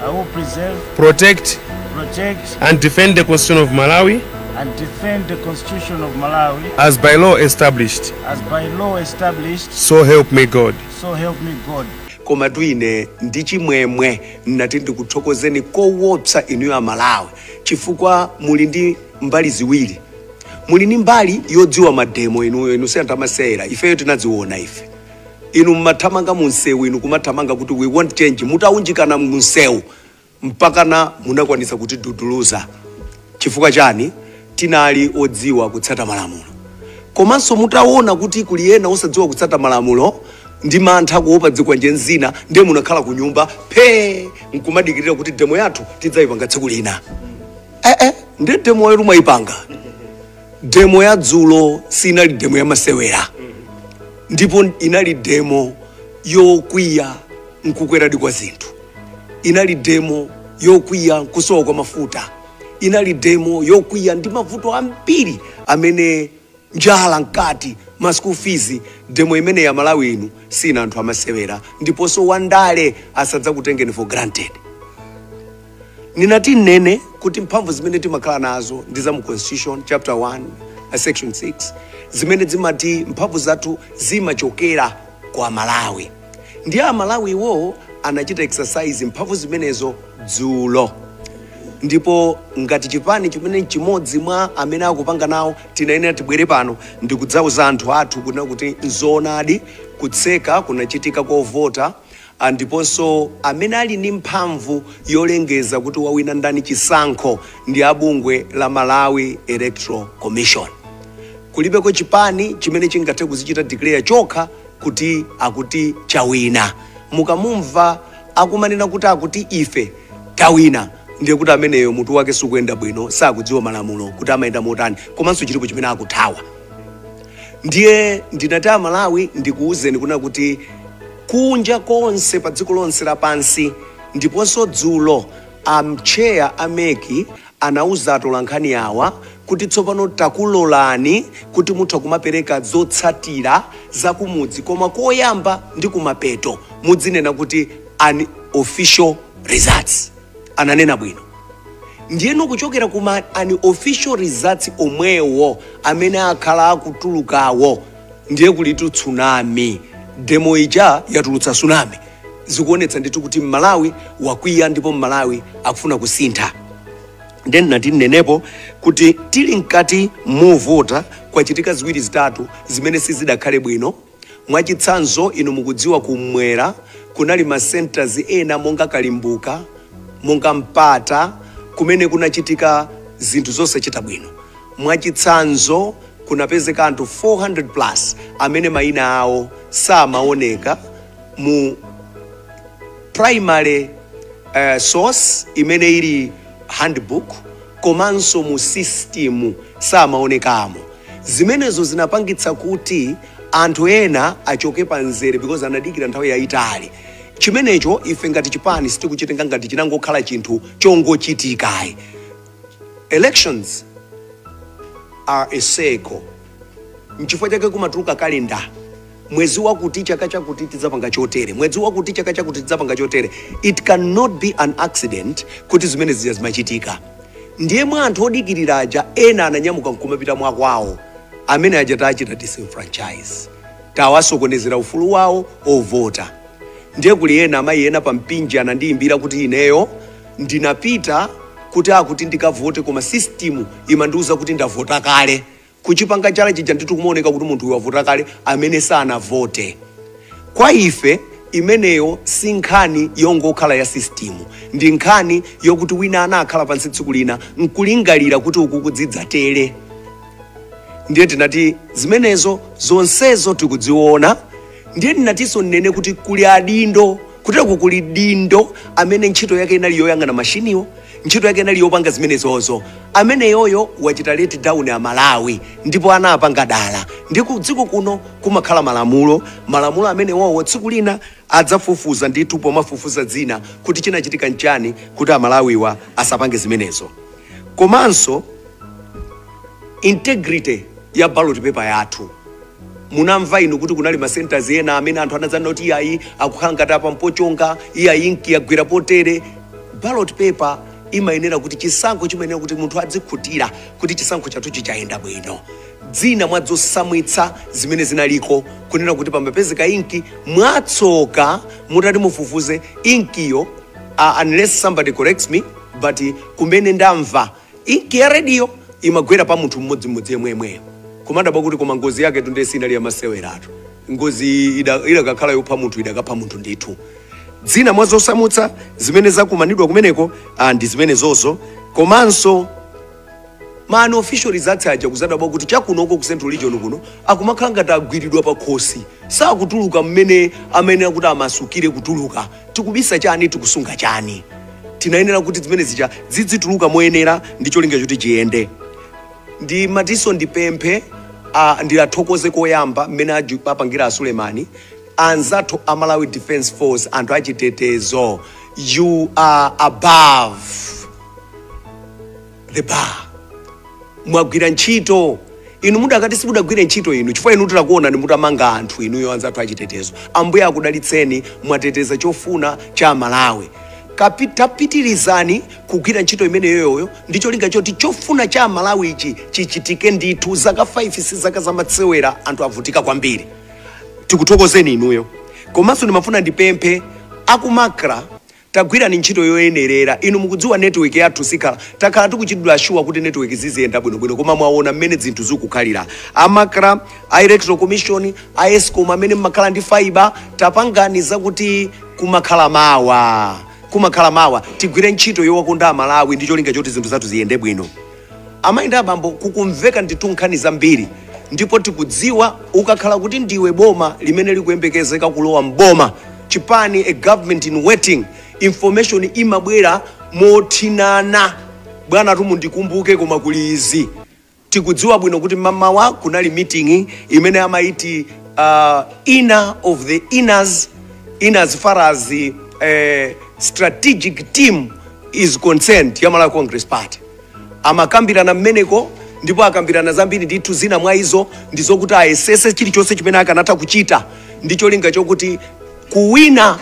I will preserve, protect, protect, and defend the Constitution of Malawi and defend the Constitution of Malawi as by law established. as by law established, So help me God. so help me God. koma tu ine ndi chimwemwe nnati ndikuthokozeni kowopsa inuyo amalawi chifukwa muli ndi mbali ziwiri muli ndi mbali yodziwa mademo inuyo inu si anthu amasewera ifeyo tinadziona ife Inu mumathamanga mu msewu, inu kumathamanga kuti we want change, mutawunjikana mu msewu mpakana munakwanitsa kutiduduluza. Chifukwa chani? Tinali odziwa kutsata malamulo. Komanso mutawona kuti kuli ena osadziwa kutsata malamulo ndi mantha kuwopa zikwanje nzina, ndiye munakhala kunyumba phee nkumadikirira kuti demo yathu tidzayipanga tsiku lina. Eh eh, ndiye demo yanu mwayipanga? demo ya dzulo sinali demo ya masewera ndipo inali demo yokwiya nkukweradi kwa zinthu inali demo yokwiya nkusowa kwa mafuta inali demo yokwiya ndi mavuto ambiri amene njala mkati ma school fees demo imeneyo amalawi inu si anthu amasewera ndiponso wandale asadzakutengeni for granted Ndinati nnene kuti mphamvu zimene timakhala nazo ndi za mu Constitution chapter 1 uh, section 6 zimene zimati mphamvu zathu zimachokera kwa Amalawi. Ndiye Amalawi iwowo anachita exercise mphamvu zimenezo dzulo ndipo ngati chipani chimene chimodzi mwa amene akupanga nawo tinayenera tibwere pano ndikudzauza anthu athu kunena kuti nzoonadi kutseka kunachitika kovota Ndiponso amene ali ndi mphamvu yolengeza kuti wawina ndani chisankho ndi a bungwe la Malawi Electoral Commission. Kulibeko chipani chimene chingathe kudzichita declare chokha kuti akuti chawina. Mukamumva akumanena kuti akuti ife tawina ndiye kuti ameneyo mutu wake sukuyenda bwino, sakudziwa malamulo kuti amayenda motani komanso chilipo chimene akuthawa. Ndiye ndinati Amalawi ndikuuzeni kuna kuti kunja konse pa dziko lonse lapansi ndiponso dzulo a mtcheya a MEC anauza atolankhani awa kuti tsopano takulolani kuti mutha kumapereka zotsatira za kumudzi koma koyamba ndi kumapeto mudzinena kuti unofficial results ananena bwino ndiyeno kuchokera ku ma unofficial results omwewo amene akhala akutulukawo ndiye kulitu tsunami demo ija yatulutsa tsunami zikuonetsa ndithu kuti mmalawi wakwiya ndipo mmalawi akufuna kusintha ndiye nnati nenepo kuti tili mkati movota kwachitika ziwiri zitatu zimene sizidakhale bwino Mwachitsanzo, inu mukudziwa Kummwera kunali ma centres ena monga Kalimbuka, monga Mpata, kumene kunachitika zinthu zosachita bwino. Mwachitsanzo, kunapezeka anthu 400 plus amene maina awo samaoneka mu primary source imene ili handbook komanso mu system samaonekamo. Zimenezo zinapangitsa kuti anthu ena achoke pa mzere because anadikira nthawi yayitali. Chimenecho ife ngati chipani sitikuchitenga ngati chinangokhala chinthu chongochitika ayi. Elections are a cycle. N'chifukwa chake kumatuluka calendar. mwezi wakuti chaka chakuti tidzapanga chotere, mwezi wakuti chaka chakuti tidzapanga chotere. It cannot be an accident kuti zimene zija zimachitika. Ndiye mwa anthu odikirira aja ena ananyamuka nkumapita mwa kwawo, amene aja tachita disenfranchise, tawasokonezera ufulu wawo ovota. Ndiye kuli ena amayi ena pa Mpinji anandiyimbira kuti ineyo ndinapita kuti akuti ndikavote koma system imandiuza kuti ndavota kale kuchipanga chala chija ndithu kumaoneka kuti munthu uyu wavota kale amene sanavote kwa ife imeneyo si nkhani yongokhala ya system ndi nkhani yokuti wina anakhala pansi tsiku lina nkulingalira kuti uku kuzidzatere ndiye tinati zimenezo zonsezo tikuziona ndiye tinatinso nnene kuti kuli adindo Kutereku kuli dindo amene ntchito yake inali yoyang'ana mashiniwo, ntchito yake inali yopanga zimenezozo. Ameneyoyo wachita let down a Malawi ndipo anapanga dala. Ndiye ku dziko kuno kumakhala malamulo, malamulo amenewowo tsiku lina adzafufuza ndithu pomafufuza zina kuti chinachitika nchani kuti a Malawiwa asapange zimenezo. Komanso. integrity ya ballot paper yathu munamva inu kuti kunali ma centers ena amene anthu anazana kuti iyayi akukhala ngati apa mpochonga iyayi inki yagwera potere ballot paper imayenera kuti chisankho chimayenera kuti munthu adzikhutira kuti chisankho chathu chi chayenda bwino zina mwa zosamwitsa zimene zinaliko kunena kuti pamapezeka inki mwatsoka mutati mufufuze inkiyo uh, unless somebody corrects me but kumene ndamva Inki ya rediyo imagwera pa munthu mmodzimmodzi yemweyemweyo. Kumadabwa kuti koma ngozi yaketu ndiye sinali yamaseweratu. Ngoziyi ida- idakakhala yopha munthu idakapha munthu ndithu. Zina mwa zosamutsa zimene zakumanidwa kumeneko ah, ndi zimenezozo komanso ma unofficial zathu aja kuzadabwa kuti chakunoko ku central region kuno akumakhala ngati agwiridwa pa khosi sakutuluka mmene amayenera kuti amasukire kutuluka tikubisa chani tikusunga chani tinayenera kuti zimene zija zidzituluka moyenera ndi cholinga choti chiyende ndimatinso ndipemphe uh, ndiwathokoze koyamba mmene aju- apangira a sulemani anzathu a malawi defense force anthu achitetezo you are above the bar mwagwira ntchito inu mudakati simudagwire ntchito inu chifukwa inu tidakuonani mutamanga anthu inuyo anzathu achitetezo ambuye akudalitseni mwateteza chofuna cha amalawi Kapi- tapitirizani kugwira ntchito imeneyoyo ndi cholinga choti chofuna cha amalawi ichi chichitike ndithu zaka 5 si zaka zamasewera anthu avutika kwambiri tikuthokozeni inuyo komanso ndimafuna ndipemphe aku macra Tagwirani ntchito yoyenerera. Inu mukudziwa network yathu sikhala. Takhala tikuchitidwa assure kuti network ziziyenda bwino bwino koma mwaona mmene zinthu zikukhalira. A macra, a electoral commission, a escom amene mmakhala ndi fibre tapangani zakuti kumakhala mawa. Kumakhala mawa. Tigwire ntchito yowakonda amalawi ndi cholinga choti zinthu zathu ziyende bwino. Amayi ndi abambo kukumveka ndithu nkhani zambiri ndipo tikudziwa ukakhala kuti ndiwe boma limene likuyembekezeka kulowa m'boma, chipani, a government in waiting, information imabwera mothinana. Bwanatu mundikumbuke koma kuli izi. Tikudziwa bwino kuti mamawa kunali meeting imene amayiti uh, inner of the inners in as far as the uh, strategic team is concerned ya Malawi Congress Party. Amakambirana mmeneko ndipo akambirana zambiri ndithu, zina mwa izo ndi zokuti ayesese chilichonse chimene akanatha kuchita ndi cholinga chokuti kuwina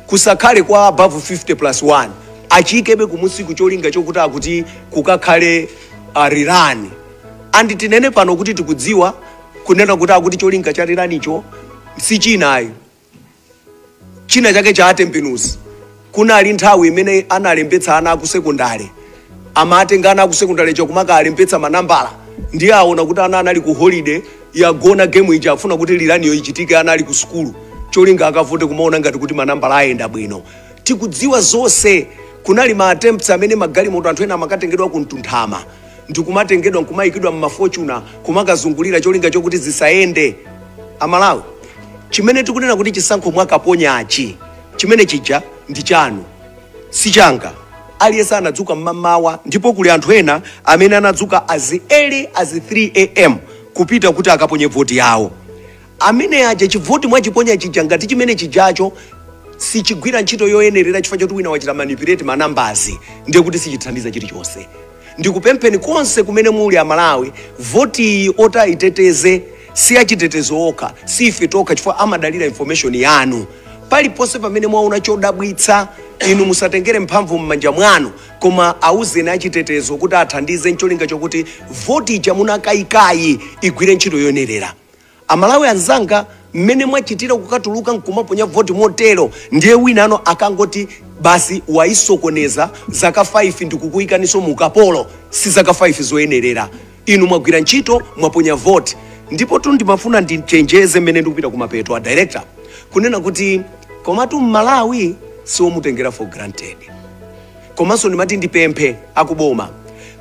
kusakhale kwa above 50 plus 1, achiikebe kumunsiku cholinga chokuti akuti kukakhale uh, rerun and tinene pano kuti tikudziwa kunena kuti akuti cholinga cha rerun-cho si china ayi china chake cha atembenuzi kunali nthawi imene analembetsa ana akusekondale amatenga ana akusekondale cha kumakalembetsa manambala ndiye aona kuti ana anali ku holiday yagona game ija afuna kuti rerun-yo ichitike ana ali ku sukulu cholinga akavote kumaona ngati kuti manambala ayenda bwino tikudziwa zonse kunali ma attempts amene magalimoto anthu ena amakatengedwa ku mtunthama ndikumatengedwa nkumayikidwa m'ma fortuner kumakazungulira cholinga chokuti zisayende. A Malawi chimene tikunena kuti chisankho mwakaponyachi chimene chija ndi chanu si changa. Aliyense anadzuka m'mamawa ndipo kuli anthu ena amene anadzuka as early as 3 am kupita kuti akaponye voti yawo. Amene aja chivoti mwachiponya chija ngati chimene chijacho sichigwira ntchito yoyenerera chifukwa choti wina wachita manipulate ma numbers ndiye kuti sichithandiza chilichonse. Ndikupempheni konse kumene muli a Malawi, voti iyi otaiteteze si achitetezo okha, si ife tokha chifukwa amadalira information yanu. Paliponse pamene mwaona chodabwitsa inu musatengere mphamvu mmanja mwanu koma auzeni achitetezo kuti athandize ncholinga chokuti voti ija munakayikayi igwire ntchito yoyenerera. Amalawi anzanga mmene mwachitira kukatuluka nkumaponya vote motero ndiye winano akangoti basi wayisokoneza zaka 5 ndikukuikaninso mu ukapolo si zaka 5 zoyenerera inu mwagwira ntchito mwaponya vote ndipotu ndimafuna ndichenjeze mmene ndikupita kumapeto a director kunena kuti komatu mmalawi siomutengera for granted. komanso ndimati ndipemphe akuboma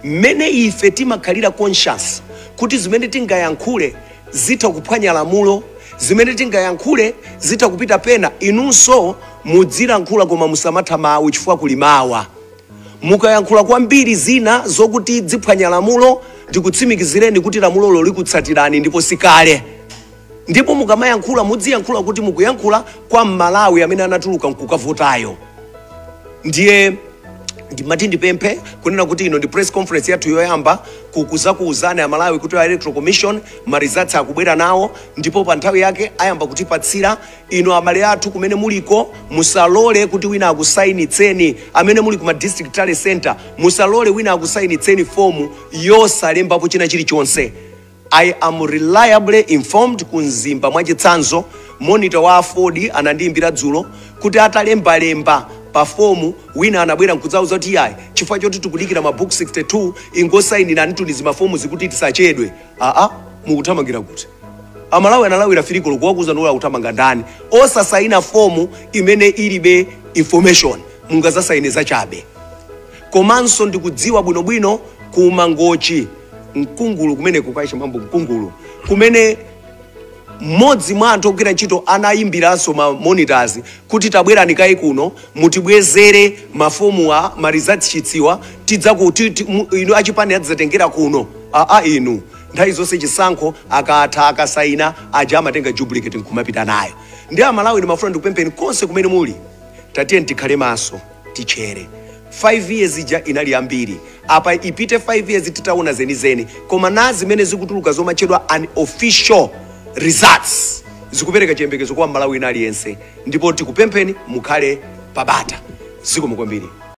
mmene ife timakhalira conscious kuti zimene tingayankhule zitha kuphwanya lamulo zimene tingayankhule zitha kupita pena inunso mudzilankhula koma musamatha mawu chifukwa kuli mawa mukayankhula kwambiri zina zokuti ziphwanya lamulo ndikutsimikizireni kuti lamulolo likutsatirani ndipo sikale Ndipo mukamayankhula mudziyankhula kuti mukuyankhula kwa m'Malawi amene anatuluka nkukavotayo. Ndiye ndimati ndipemphe kunena kuti ino ndi press conference yathu yoyamba kuzakuuzani amalawi kuti a electoral commission marizatsi akubwera nawo ndipo pa nthawi yake ayamba kutipatsira ino abale athu kumene muliko musalole kuti wina akusayinitseni amene muli ku ma district tally center musalole wina akusayinitseni fomu yosalembapo china chilichonse I am reliably informed ku Mzimba mwachitsanzo monitor wa aford anandiimbira dzulo kuti atalemba lemba pa form wina anabwera nkudzauza kuti iyayi chifukwa choti tikudikira ma book 62 ingosainiranitu ni zi ma form zi kuti tisachedwe aa mukuthamangira kuti amalawi analawira 3 koloko kuwauza ndiwo akuthamanga ndani osasaina fomu imene ilibe information mungazasaine zachabe komanso ndikudziwa bwinobwino ku mangochi mkungulu kumeneko kwa chimambo mkungulu kumene mmodzi mwa anthu ogwira ntchito anayimbiranso ma monitors kuti tabwerani kaye kuno mutibwezere mafomuwa ma results sheets-wa tidzaku ti- ti- mu- inu achipani adzatengera kuno aa inu nthawi zonse chisankho akatha akasaina aja amatenga duplicate nkumapita nayo ndiye amalawi ndimafuna ndikupempheni konse kumene muli tatiyeni tikhale maso titchere 5 years ija inali yambiri apa ipite 5 years titaona zenizeni koma nazi zimene zikutuluka zomatchedwa unofficial results zikupereka chiyembekezo kwa mmalawi wina aliyense ndipo tikupempheni mukhale pabata zikomo kwambiri